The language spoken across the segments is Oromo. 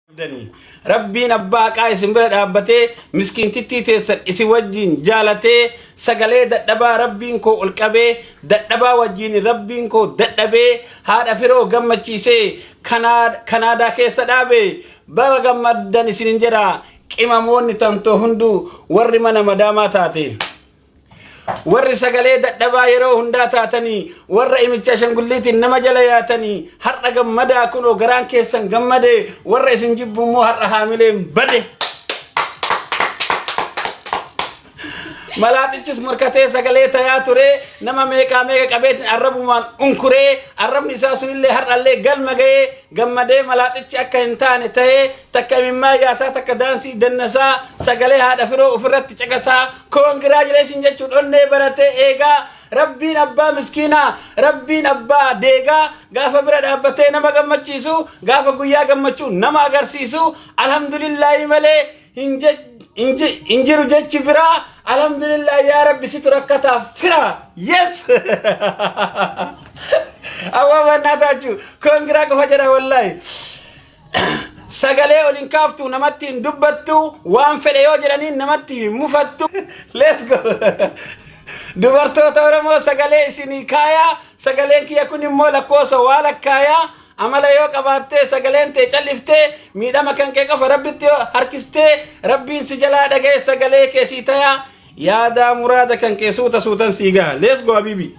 qabdanii rabbiin abbaa haqaa isin bira dhaabbatee miskiintittii teessan isin wajjiin jaalatee sagalee dadhabaa rabbiin koo ol qabee dadhabaa wajjiin rabbiin koo dadhabee haadha firoo gammachiisee kanaa- kanaadaa keessa dhaabe baga gammaddan isinin jedha qimamoonni tantoo hunduu warri mana madaamaa taate. Warri sagalee dadhabaa yeroo hundaa taatanii warra imicha ashangulliitiin nama jala yaatanii har'a gammadaa kunoo garaan keessan gammade warra isin jibbu immoo har'a haamileen bade. Malaaxichis morkatee sagalee tayaa ture nama meeqaa meeqa qabeetiin arrabumaan unkuree arrabni isaa sunillee har'allee galma ga'ee gammadee malaaxichi akka hin taane ta'ee takka imimmaa yaasaa takka daansii dannasaa sagalee haadha firoo ofirratti caqasaa Congratulations jechuun onnee baratee eegaa rabbiin abbaa miskiinaa rabbiin abbaa deegaa gaafa bira dhaabbatee nama gammachiisu gaafa guyyaa gammachuu nama agarsiisu alhamdulillaahi malee hin je- hin ji- hin jiru jechi biraa alhamdulillaahi yaa rabbi situ rakkataa fira yes awwa mannaa taachuu kongiraa qofa jedha wallaahi Sagalee ol hin kaaftu namatti hin dubbattu waan fedhe yoo jedhaniin namatti hin mufattu. Let's go. Dubartoota Oromoo sagalee isinii kaayaa sagaleen kiyya kun immoo lakkoofsa waa lakkaayaa amala yoo qabaattee sagaleen tee calliftee miidhama kan kee qofa rabbitti yoo harkistee rabbiin si jalaa dhaga'e sagalee kee sii tayaa yaadaa muraada kan kee suuta suutan sii gaha. Let's go Habibi.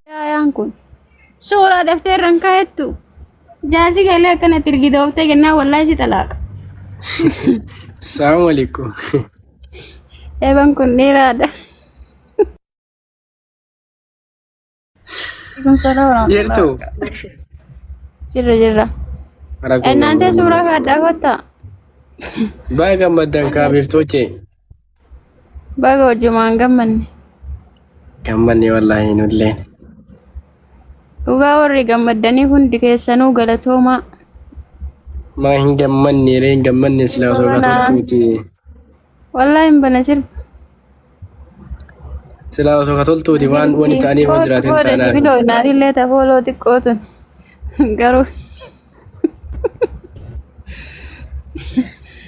Daayaan kun suuraa daftee irraan kaa'ettu jaarsi galee akkanatti ergite ooftee kennaa wallaahi si xalaaqa. Assalamu alaikum. Eeban kun dheeraadha. Kun sodaa waraabaa. Jirtu. Jirra jirra. Rakkoo Innaantee qabna. suuraa kaa dhaabattaa? Baay'ee gammaddan kaabiftoche. Baga hojjumaan gammanne. Gammanne wallaahi nulleen. Dhugaa warri gammaddanii hundi keessanuu galatoomaa. Maa hin gammanne ree hin gammanne silaa osoo Wallaahi. gaafatuuti. Wallahi hin bana sirba. Silaa osoo ka toltuuti waan wani ta'anii waan jiraatiin Booda taanaan. sibiloo inaadillee tafooloo xiqqoo tun. Garuu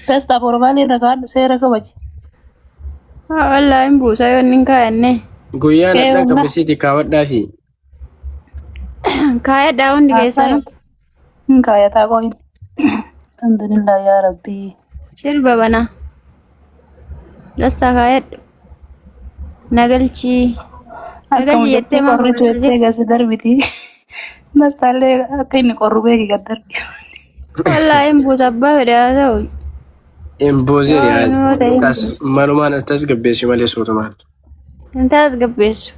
Testa formaali irra kaadhu seera kabaji. wallahi hin buusa yoo inni hin kaa'anne. Guyyaan Ee, adhaan wallaa. qabisiiti kaawwadhaa fi Kaayadhaa hundi keessanuu. Hin kaayataa qoyin. Alhamdulillah yaa Rabbii. Sirba banaa. Dassaa kaayadhu. Nagalchii. Akka Nagalchii mucattii jettee maaf qorritu jettee hojjettee? gasi darbiti. Nastaallee akka inni qorru beeki gad darbi. Wallaahi hin buusa abbaa fedhe haa ta'u. Imbuuziin Yoo yaa yoo ta'e hin tas malumaan tas gabbeessi malee suutumaan. Hin tasgabbeessu.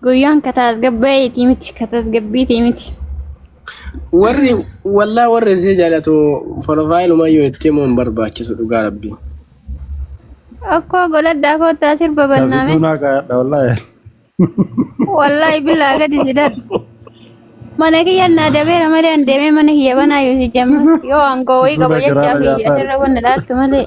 Guyyaan ka tasgabbaa'eetii miti, ka tasgabbiitii miti. Warri wallaa warri isii jaalatu profaayiluma yoo itti himuu hin barbaachisu dhugaa rabbii. Akkoo godhadhaa koottaa sirba Taasistuu bannaame. naa gaadha wallaahi. Wallaahi billaa gadi si darbe. Mana kiyya naa dabeera malee an deemee mana kiyya banaa yoo si jamma. Yoo aangoo wayii qaba Suuraa jechaa garaara fi jaataa. asirra wanna dhaattu malee.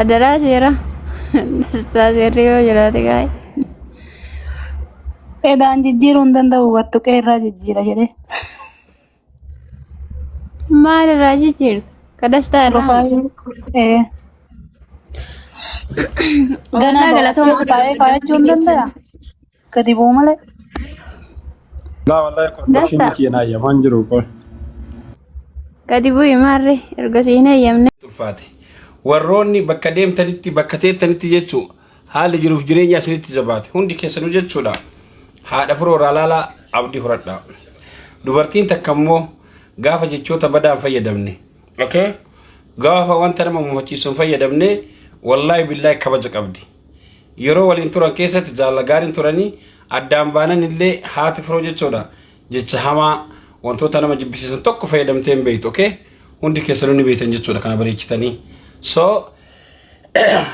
Adaraa seera. Dastaa seerri yoo jiraate gaa'e. Edaan jijjiiruu hin danda'u wattu qeerraa jijjiira jedhee. Maal irraa jijjiirta? Ka dastaa irraa. Profaayilii. Ee. Ganaa Walaa galatoomaa. taa'ee kaa'achuu hin danda'a. Gadi bu'u malee. Laa wallahi kondookshinii Dasta. kiyya naayya waan jiru qoy. Gadi bu'i maarree erga si hin eeyyamne. ulfaate. Warroonni bakka deemtanitti, bakka teettanitti jechuu haalli jiruuf jireenya isinitti jabaate hundi keessanuu jechuudha. Haadha firoo irraa laalaa abdii horadhaa. Dubartiin takka immoo gaafa jechoota badaa hin fayyadamne. Okay? Gaafa wanta nama mufachiisu hin fayyadamne wallaahi billaahi kabaja qabdi. Yeroo waliin turan keessatti jaalala gaariin turanii addaan baanan illee haati firoo jechoodha jecha hamaa wantoota nama jibbisiisan tokko fayyadamtee hin beektu okay hundi keessanuu ni beektan jechuudha kana bareechitanii so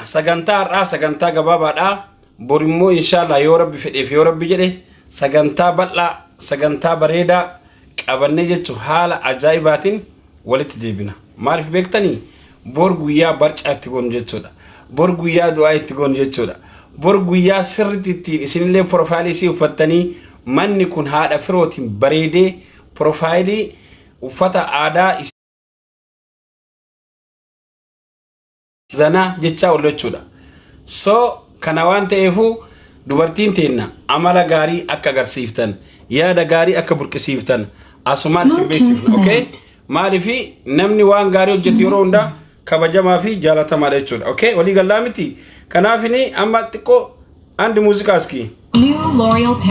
sagantaa har'aa sagantaa gabaabaadhaa bor immoo inshaallah yoo rabbi fedheef yoo rabbi jedhe sagantaa bal'aa sagantaa bareedaa qabannee jechuun haala ajaa'ibaatiin walitti deebina. Maaliif beektanii? Bor guyyaa barcaa itti goonu jechuudha. Bor guyyaa du'aa itti goonu jechuudha. Bor guyyaa sirriitti ittiin isinillee piroofaayilii isii uffattanii manni kun haadha firootiin bareedee piroofaayilii uffata aadaa Zanaa jechaa ollu jechuudha. So kana waan ta'eefuu dubartiin teenna amala gaarii akka agarsiiftan yaada gaarii akka burqisiiftan asumaan isin beeksifna. Okay? Maaliif namni waan gaarii hojjetu yeroo hundaa kabajamaa fi jaalatamaadha jechuudha. Okay? Walii gallaa miti. Kanaaf amma xiqqoo andi muuziqaa iskii. New L'Oreal Paris.